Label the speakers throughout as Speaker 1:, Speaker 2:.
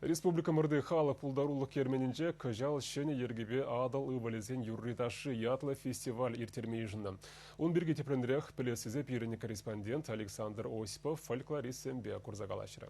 Speaker 1: Республикӑмӑрти халӑх пултарулӑх керменӗнче кӑҫал ҫӗнӗ йӗркепе Атӑл ывӑлӗсен юрри-ташши ятлӑ фестиваль ирттерме йышӑннӑ. Ун пирки тӗплӗнрех пӗлес тесе пирӗн корреспондент Александр Осипов фольклористсемпе курса калаҫрӗ.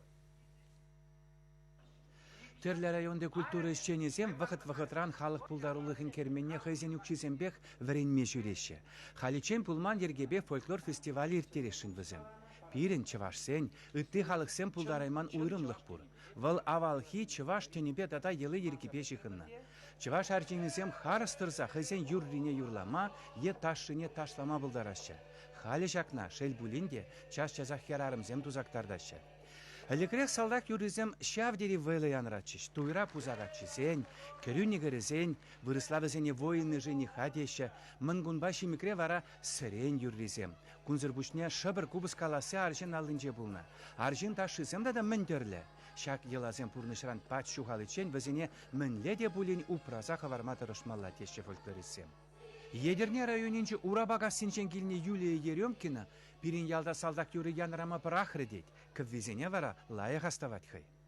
Speaker 2: Тӗрлӗ районти культура ӗҫченӗсем вӑхӑт-вӑхӑтран халӑх пултарулӑхӗн керменне хӑйсен укҫисемпех вӗренме ҫӳреҫҫӗ. Халиччен пулман йӗркепе фольклор фестиваль ирттересшӗн вӗсем. Пирӗн, чӑвашсен, ытти халӑхсем пултарайман уйрӑмлӑх пур. Вӑл авалхи чӑваш тӗнӗпе тата йӑли-йӗркипе ҫыхӑннӑ. Чӑваш арҫынӗсем харӑс тӑрса хӑйсен юррине юрлама е ташшине ташлама пултараҫҫӗ. Халӗ ҫакна, шел пулин те, час-часах хӗрарӑмсем тусактартаҫҫӗ. Ӗлӗкрех салтак юррисем ҫав тери вӑйлӑ янӑратчӗҫ, туйра пуса каччисен, кӗрӳ нихӗрӗсен, вырӑсла вӗсене воины жениха теҫҫӗ, мӑнкунпа ҫимӗкре вара сӗрен юррисем, Кунсӑр пуҫне шӑпӑр купӑс каласси арҫын аллинче пулнӑ. Арҫын ташшисем тата мӗн тӗрлӗ! Ҫак йӑласем пурнӑҫран пач ҫухаличчен вӗсене мӗнле те пулин упраса хӑварма тӑрӑшмалла, теҫҫӗ фольклористсем. Етӗрне районӗнчи Урапакассинчен килнӗ Юлия Еремкина пирӗн ялта салтак юрри янӑрама пӑрахрӗ тет, кӗввисене вара лайӑх астӑвать хӑй.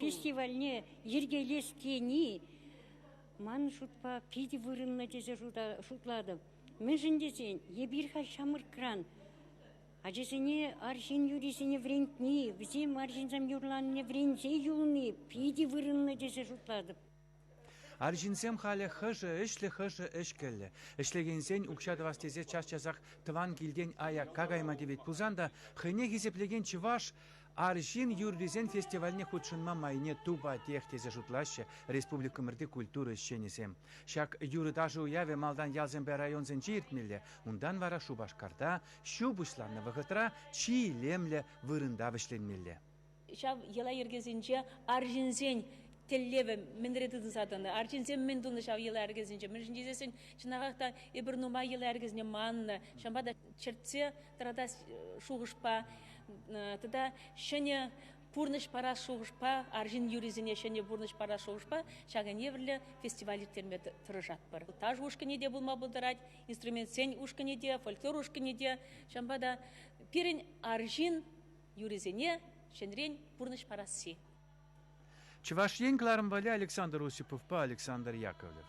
Speaker 3: Фестивальне йӗркелес тени ман шутпа питӗ вырӑнлӑ тесе шутлатӑп. Мӗншӗн тесен эпир халь ҫамрӑкран ачасене арҫын юррисене вӗрентни, вӗсем арҫынсем юрланине вӗренсе юлни питӗ вырӑнлӑ тесе шутлатӑп.
Speaker 2: Арҫынсем халӗ хӑшӗ ӗҫлӗ, хӑшӗ ӗҫкӗллӗ. Ӗҫлекенсен укҫа тӑвас тесе час-часах тӑван килтен аякка кайма тивет пулсан та хӑйне хисеплекен чӑваш арҫын юррисен фестивальне хутшӑнма майне тупатех тесе шутлаҫҫӗ республикӑмӑрти культура ӗҫченӗсем. Ҫак юрӑ-ташӑ уявӗ малтан ялсемпе районсенче иртмелле, унтан вара Шупашкарта ҫу пуҫланнӑ вӑхӑтра чи илемлӗ вырӑнта вӗҫленмелле. ҫав
Speaker 4: йӑла-йӗркесенче арҫынсен тӗллевӗ мӗнре тытӑнса тӑнӑ, арҫынсем мӗн тунӑ ҫав йӑла-йӗркесенче, мӗншӗн тесен чӑнахах та эпир нумай йӑла-йӗркесене маннӑ, ҫавӑнпа та чӗртсе тӑратас шухӑшпа тата ҫӗнӗ пурнӑҫ парас шухӑшпа, арҫын юррисене ҫӗнӗ пурнӑҫ парас шухӑшпа ҫак ӗневӗрлӗ фестиваль ирттерме тӑрӑшатпӑр. Таш ушкӑнӗ те пулма пултарать, инструментсен ушкӑнӗ те, фольклор ушкӑнӗ те. Ҫавӑнпа та пирӗн арҫын юрисене ҫӗнӗрен пурнӑҫ парасси.
Speaker 2: Чӑваш Ен кӑларӑмпалли
Speaker 4: Александр
Speaker 2: Осиповпа Александр Яковлев.